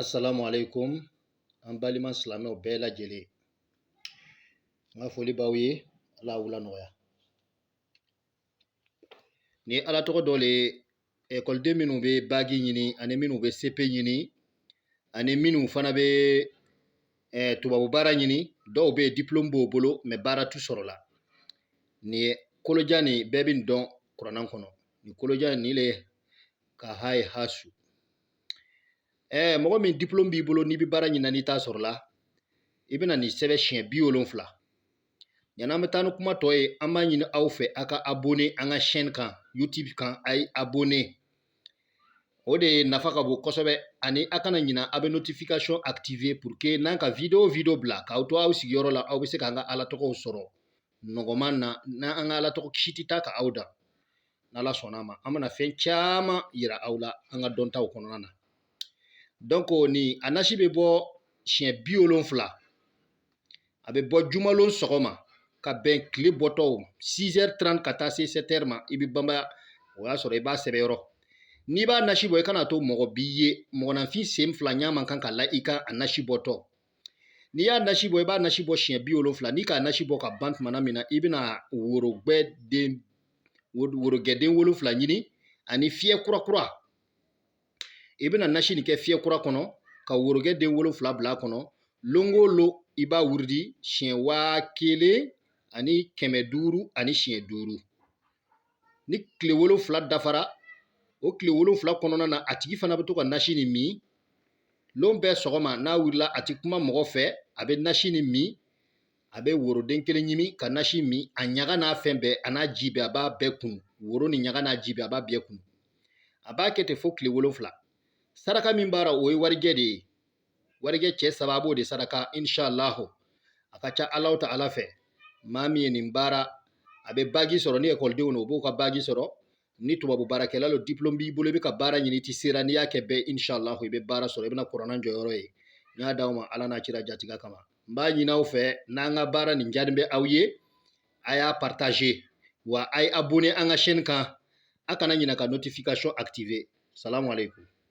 Assalamu alaikum an balima silamɛw bɛɛ lajɛlen n ka foli b'aw ye ala wula nɔgɔya ni ala tɔgɔ dɔ le ekɔliden minnu bɛ bagi ɲini ani minnu bɛ sepe ɲini ani minnu fana bɛ eh, tubabu baara ɲini dɔw bɛ yen diplôme b'o bolo mais baara t'u sɔrɔ la nin ye kolojan nin bɛɛ bɛ nin dɔn kurana kɔnɔ nin kolojan nin le ka ha ye ha su ɛɛ mɔgɔ min diplɔmu b'i bolo n'i bɛ baara ɲini na n'i t'a sɔrɔ la i bɛna nin sɛbɛn siɲɛ bi wolonfila yanni an bɛ taa ni kuma tɔ ye an b'a ɲini aw fɛ aw ka abone an ka chaîne kan youtube kan a ye abone o de nafa ka bon kosɛbɛ ani aw kana ɲina aw bɛ notification activer pour que n'an ka video o video bila k'aw to aw sigiyɔrɔ la aw bɛ se k'an ka ala tɔgɔw sɔrɔ nɔgɔman na n'an an ka ala tɔgɔ kisi tɛ taa ka aw dan n'ala sɔnna a ma an bɛna fɛn caman yira aw la an ka dɔntaw kɔnɔna na donc nin a nasi bɛ bɔ siɲɛ bi wolonfila a bɛ bɔ jumalon sɔgɔma ka bɛn tile bɔtɔw 6h30 ka taa se 7h ma i bɛ banbaya o y'a sɔrɔ i b'a sɛbɛn yɔrɔ n'i b'a nasi bɔ i kana to mɔgɔ b'i ye mɔgɔninfin sen fila ɲa man kan ka la i kan a nasi bɔtɔ N'i y'a nasi bɔ i b'a nasi bɔ siɲɛ bi wolonfila n'i k'a nasi bɔ ka ban tuma na min na i bɛna worogɛden wolonfila ɲini ani fiyɛ kura kura i bɛna nasi nin kɛ fiyɛ kura kɔnɔ ka worogɛ den wolonfila bila a kɔnɔ lon o lon i b'a wurudi siɲɛ waa kelen ani kɛmɛ duuru ani siɲɛ duuru ni tile wolonfila dafara o tile wolonfila kɔnɔna na a tigi fana bɛ to ka nasi nin min lon bɛɛ sɔgɔma n'a wulila a tɛ kuma mɔgɔ fɛ a bɛ nasi nin min a bɛ woroden kelen ɲimi ka nasi min a ɲaga n'a fɛn bɛɛ an'a ji bɛɛ a b'a bɛɛ kunu woro nin ɲaga n'a ji bɛɛ a b'a bɛɛ kunu a b'a kɛ ten fo tile wolonfila saraka min b'a la o ye warijɛ de ye warijɛ cɛ saba a b'o de saraka inshallahu a ka ca ala ta ala fɛ maa min ye nin baara a bɛ bagi sɔrɔ ni ekɔlidenw don o b'o ka bagi sɔrɔ ni tubabu baarakɛla don diplôme b'i bolo i bɛ ka baara ɲini i ti sera n'i y'a kɛ bɛɛ inshallahu i bɛ baara sɔrɔ i bɛna kurana jɔyɔrɔ ye n y'a d'aw ma ala n'a cira jatiga kama n b'a ɲini aw fɛ n'an ka baara nin diyanye bɛ aw ye a y'a partager wa a ye abonné an ka chaîne kan a kana ɲinɛ ka notification activer salamu aleykum